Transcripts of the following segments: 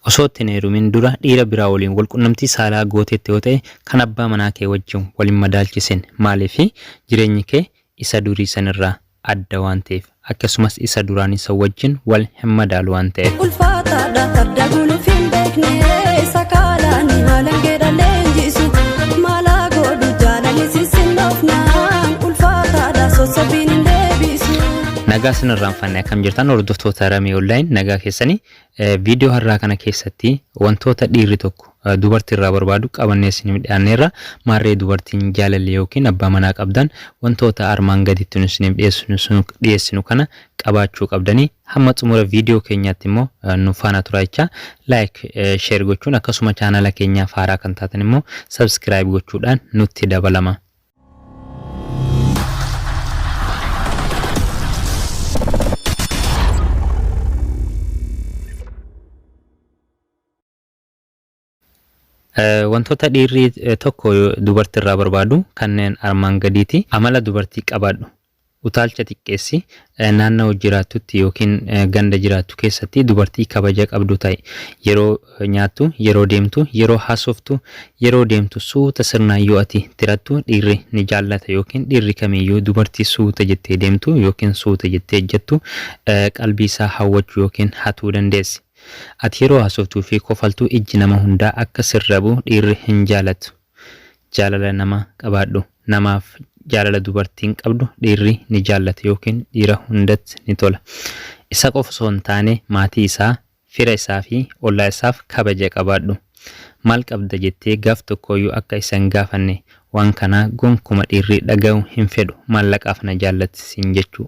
Osoo itti hin heerumin dura dhiira biraa waliin wal qunnamtii saalaa gooteetta yoo ta'e kan abbaa manaa kee wajjin wal hin madaalchisin. Maaliif? Jireenyi kee isa durii san irraa adda waan ta'eef. Akkasumas isa duraanii san wajjin wal hin madaalu waan ta'eef. Ulfaataadha farda guluuf hin beekne sakaalani halangeedha leenjisu maalaa godhu jaalani sisinnoofnaan ulfaataadha sossobbiin hin deebisu. Nagaa sin irraanfanne akkam jirtan hordoftoota Ramee Online nagaa keessanii viidiyoo har'aa kana keessatti wantoota dhiirri tokko dubartii irraa barbaadu qabannee isin dhiyaanneerra maarree dubartiin jaalallee yookiin abbaa manaa qabdan wantoota armaan gaditti nu isiniif dhiyeessinu dhiyeessinu kana qabaachuu qabdanii hamma xumura viidiyoo keenyaatti immoo nu faana turaa jecha laayik sheer gochuun akkasuma chaanala keenyaaf haaraa kan taatan immoo sabskiraayib gochuudhaan nutti dabalama. Wantoota dhiirri tokko dubartii irraa barbaadu kanneen armaan gadiiti. Amala dubartii qabaadhu. Utaalcha xiqqeessi. Naannawa jiraattutti ykn ganda jiraattu keessatti dubartii kabaja qabdu ta'i. Yeroo nyaattu, yeroo deemtu, yeroo haasoftu, yeroo deemtu suuta sirnaan yoo ati tirattu dhiirri ni jaallata ykn dhiirri kamiyyuu dubartii suuta jettee deemtu ykn suuta jettee ejjattu qalbiisaa hawwachuu ykn hatuu dandeessi. Ati yeroo haasoftuufi kofaltu ijji nama hundaa akka sirra bu'u dhiirri hin jaalatu. Jaalala nama qabaadhu. Namaaf jaalala dubartiin qabdu dhiirri ni jaallata ykn dhiira hundatti ni tola. Isa qofa osoo hin taane maatii isaa, fira isaa fi ollaa isaaf kabaja qabaadhu. Maal qabda jettee gaaf tokkooyyuu akka isa hin gaafanne. Waan kana gonkuma dhiirri dhaga'uu hin fedhu. Maallaqaaf na jaallatti siin jechuu.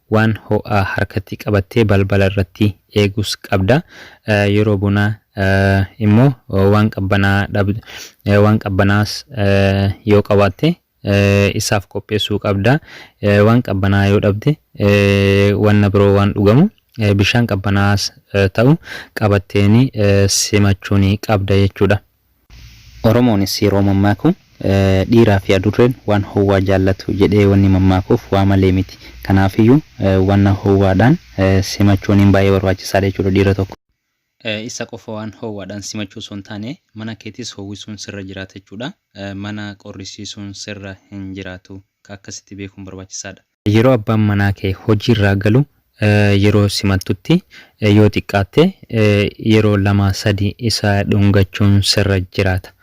Waan ho'aa harkatti qabattee balbala irratti eegus qabda. Yeroo bonaa immoo waan qabbanaa'aa dhabdu. Waan qabbanaa'aas yoo qabaatte isaaf qopheessuu qabda. Waan qabbanaa'aa yoo dhabde wanna biroo waan dhugamu bishaan qabbanaa'aas ta'u qabatteeni simachuuni qabda jechuudha. Oromoonis yeroo mammaaku dhiiraafi adurreen waan howwaa jaallatu jedhee wanni mammaakuuf waa malee miti. Kanaafiyyuu wanna howwaadhaan simachuuniin baay'ee barbaachisaadha jechuudha dhiira tokko. Isa qofa waan howwaadhaan simachuu osoo hin taane mana keetis howwisuun sirra jiraata jechuudha. Mana qorrisiisuun sirra hin jiraatu. Akka akkasitti beekuun barbaachisaadha. Yeroo abbaan manaa kee hojiirraa galu yeroo simattutti yoo xiqqaatte yeroo lama sadi isa dhungachuun sirra jiraata.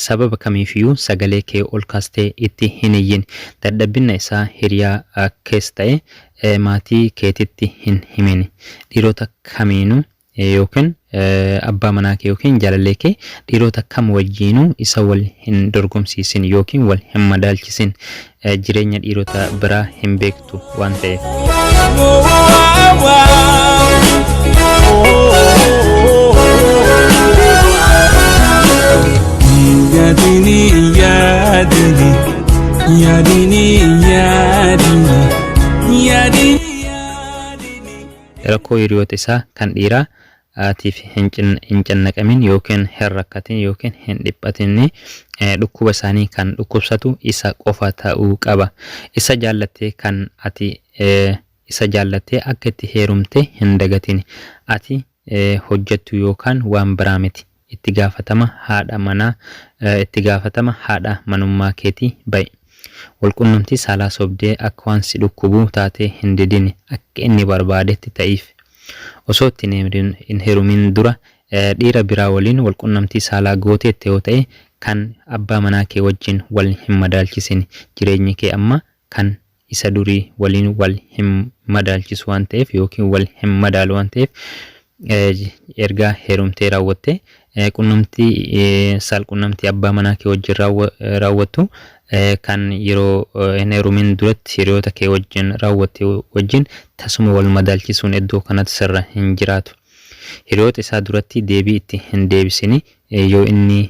Sababa kamiifiyuu sagalee kee ol kaastee itti hin iyyin. Dadhabbinna isaa hiriyaa kees ta'e maatii keetitti hin himin. Dhiirota kamiinuu yookiin abbaa manaa kee yookiin jaalallee kee dhiiroota kam wajjiinuu isa wal hin dorgomsiisin yookiin wal hin madaalchisin jireenya dhiirota biraa hin beektu waan ta'eef. Yaadini yaadini yaadini yaadini yaadini. Rakkoo hiriyoota isaa kan dhiiraa tiif hin cannaqamin ykn hin rakkatin ykn hin dhiphatin. Dhukkuba isaanii kan dhukkubsatu isa qofa ta'uu qaba. Isa jaallatte kan ati isa jaallatte akka itti heerumte hin dagatin. Ati hojjattu yookaan waan biraa miti. itti gaafatama haadha manaa itti gaafatama haadha manummaa keetii ba'i. Wal qunnamtii saalaa sobdee akka waan si dhukkubuu taatee hin didini akka inni barbaadetti ta'iif. Osoo itti hin herumin dura dhiira biraa waliin wal qunnamtii saalaa gooteetta yoo ta'e kan abbaa manaa kee wajjin wal hin madaalchisini jireenyi kee amma kan isa durii waliin wal hin madaalchisu waan ta'eef yookiin wal hin madaalu waan ta'eef erga heerumtee raawwattee qunnamtii saalqunnamtii abbaa manaa kee wajjin raawwattu kan yeroo hin heerumin duratti hiriyoota kee wajjin raawwatte wajjin tasuma wal madaalchisuun iddoo kanatti sirra hin jiraatu. Hiriyoota isaa duratti deebii itti hin deebisini yoo inni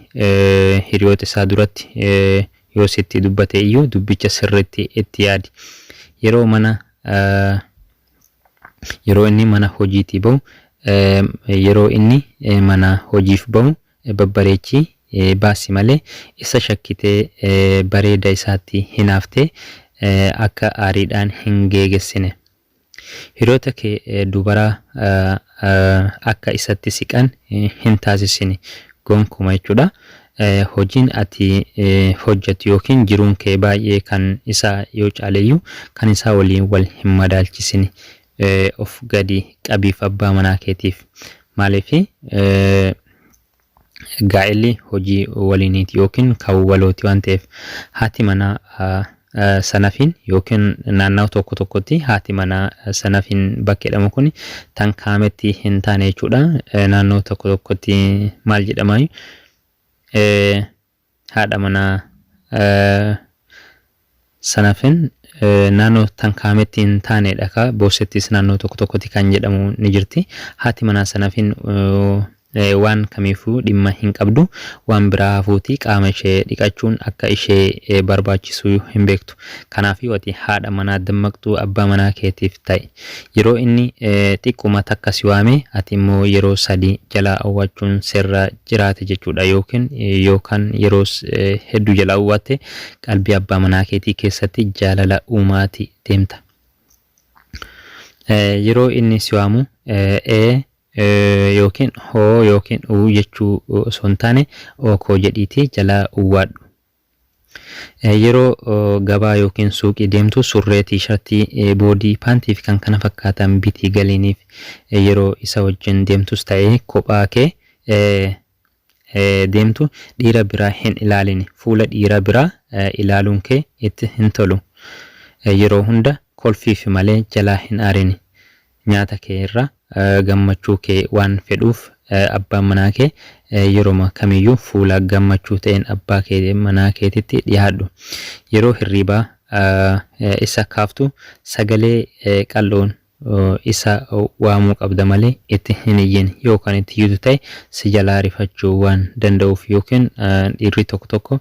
hiriyoota isaa duratti yoo sitti dubbate iyyuu dubbicha sirriitti itti yaadi. Yeroo mana yeroo inni mana hojiitii ba'u yeroo inni mana hojiif ba'u babbareechii baasi malee isa shakkitee bareeda isaatti hinaaftee akka aariidhaan hin geegessine. Hiriyoota kee dubaraa akka isatti siqan hin taasisini gonkuma jechuudha. Hojiin ati hojjattu ykn jiruun kee baay'ee kan isaa yoo caaleyyuu kan isaa waliin wal hin madaalchisini. Of gadi qabiif abbaa manaa keetiif. Maaliif? gaa'elli hojii waliiniiti yookiin kan walooti waan ta'eef haati manaa ah, ah, sanafiin yookiin naannawa tokko tokkotti haati manaa eh, sanafiin bakka jedhamu kun tan kaametti hin taane jechuudha. Eh, Naannawa tokko tokkotti maal jedhama? Eh, Haadha manaa Sanafin naannoo tan kaametti hin taane dha kaa Boossettis naannoo tokko tokkotti kan jedhamu ni jirti. Haati manaa Sanafin waan kamiifuu dhimma hin qabdu. Waan biraa hafuutii qaama ishee dhiqachuun akka ishee barbaachisu hin beektu. Kanaafiyu ati haadha manaa dammaqxuu abbaa manaa keetiif ta'i. Yeroo inni xiqquma takka si waame ati immoo yeroo sadii jalaa owwachuun sirra jiraata jechuudha yookiin yoo kan yeroo hedduu jalaa owwatte qalbii abbaa manaa keetii keessatti jaalala uumaati deemta. Yeroo inni si waamu ee yookiin hoo yookiin uu jechuu osoo hin taane ookoo jedhiitii jalaa uwwaadhu. Yeroo gabaa yookiin suuqii deemtu surree, tiishartii, boodii, paantii fi kan kana fakkaatan bitii galiiniif. Yeroo isa wajjin deemtus ta'e kophaa kee deemtu dhiira biraa hin ilaalini. Fuula dhiira biraa ilaaluun kee itti hin tolu. Yeroo hunda kolfiifi malee jalaa hin aarini. Nyaata kee irra gammachuu kee waan fedhuuf abbaan manaa kee yeroma kamiyyuu fuula gammachuu ta'een abbaa kee manaa keetitti dhihaadhu. Yeroo hirriibaa isa kaaftu sagalee qal'oon isa waamuu qabda malee itti hin iyyin. Yoo kan itti iyyitu ta'e si jalaa rifachuu waan danda'uuf ykn dhiirri tokko tokko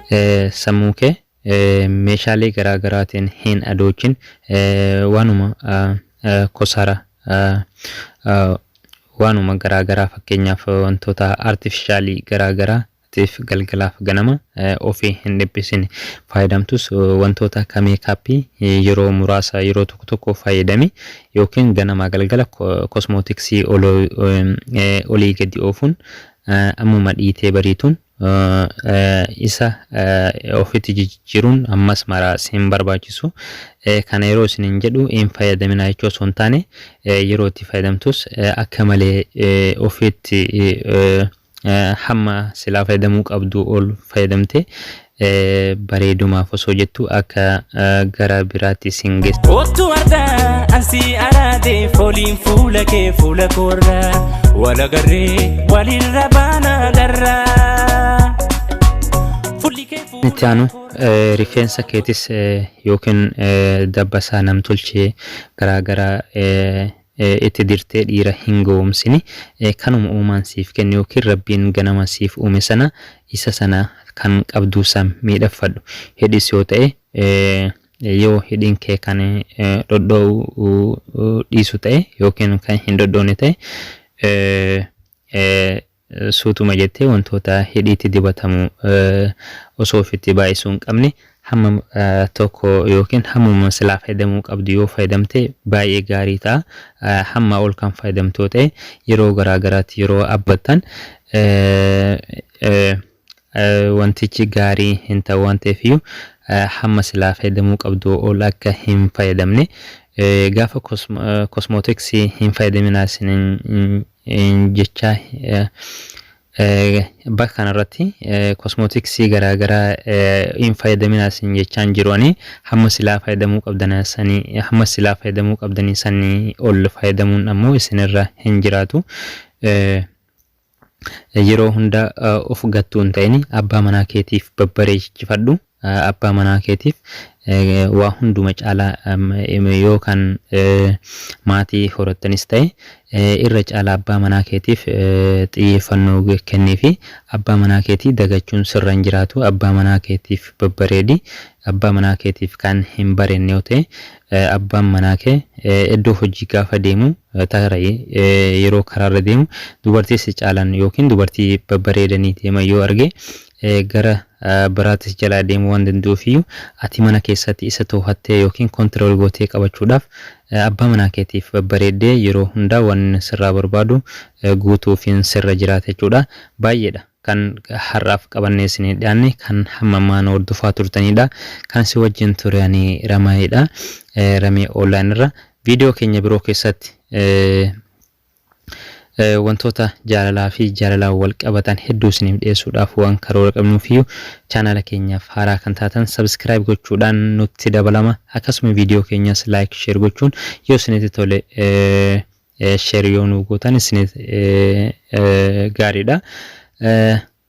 Sammuukee meeshaalee garaa garaatiin hin adoochin. Waanuma kosaara, waanuma garaa garaa fakkeenyaaf wantoota artifishaalii garaa garaa tiif galgalaaf ganama ofii hin dhiphisin. Faayidamtus wantoota akka meekaappii yeroo muraasa yeroo tokko tokko fayyadami yookiin ganamaa galgala kosmootiksii olii gadi oofuun ammuma dhiitee bariituun isa ofitti jijjiiruun ammas maraa sin barbaachisu kana yeroo isinin jedhu hin fayyadaminaa jechuu osoo hin taane yeroo itti fayyadamtus akka malee ofitti hamma silaa fayyadamuu qabdu ol fayyadamte bareedumaaf osoo jettu akka garaa biraatti sin geessa. Kottu har'a an si araade fooliin fuula kee fuula koorra wal agarree walirra baana garra. Fuulli kee fuula Itti aanu eh, rifeensa keetis eh, yookiin eh, dabbasaa namtolchee garaagaraa eh, itti dirtee dhiira hin gowomsini kanuma uumaan siif kenne yookiin rabbiin ganama siif uume sana isa sana kan qabduu sam miidhagfadhu hidhis yoo ta'e yoo hidhiin kee kan dhodhoo'u dhiisu ta'e yookiin kan hin dhodhoone ta'e Suutuma jettee wantoota hidhiitti dibatamu osoo ofitti baay'isuu hin qabne hamma tokko yookiin hammuma silaa fayyadamuu qabdu yoo fayyadamte baay'ee gaarii ta'a. Hammaa ol kan fayyadamtu yoo ta'e yeroo garaa garaatti yeroo abbattan wantichi gaarii hin ta'u waan ta'eef iyyuu hamma silaa fayyadamuu qabdu ol akka hin fayyadamne gaafa kosmootiksii hin fayyadaminaa isiniin jechaa bakka kana irratti kosmootiksii garaa garaa hin fayyadaminaa isin jechaa hin jiru ani hamma silaa fayyadamuu qabdan sanii hamma silaa fayyadamuu qabdanii sanii ol fayyadamuun ammoo isinirra hin jiraatu yeroo hunda of gattuu hin ta'in abbaa manaa keetiif babbareechifadhu Abbaa manaa keetiif waa hunduma caalaa yoo kan maatii horattanis ta'e irra caalaa abbaa manaa keetiif xiyyeeffannoo kenniifi. Abbaa manaa keetii dagachuun sirra hin jiraatu. Abbaa manaa keetiif babbareedi. Abbaa manaa keetiif kan hin bareedne yoo ta'e abbaan manaa kee iddoo hojii gaafa deemu tarii yeroo karaarra deemu dubartii si caalan yookiin dubartii babbareedanii deeman yoo arge gara biraatti si jalaa deemuu waan danda'uuf iyyuu ati mana keessatti isa toohattee yookiin control gootee qabachuudhaaf abbaa manaa keetiif babbareeddee yeroo hundaa waan inni sirraa barbaadu guutuufiin sirra jiraata jechuudha. Baay'eedha kan har'aaf qabannee isiniif dhiyaanne kan hamma ammaa nu hordofaa turtaniidha. Kan si wajjin ture ani Ramayeedha. Ramee online irra viidiyoo keenya biroo keessatti Wantoota jaalalaa fi jaalalaan wal qabatan hedduu isiniif dhiyeessuudhaaf waan karoora qabnuufiyyuu chaanaala keenyaaf haaraa kan taatan subscribe gochuudhaan nutti dabalama. Akkasuma viidiyoo keenyas like share gochuun yoo isinitti tole share yoo nuu gootan isiniif gaariidha.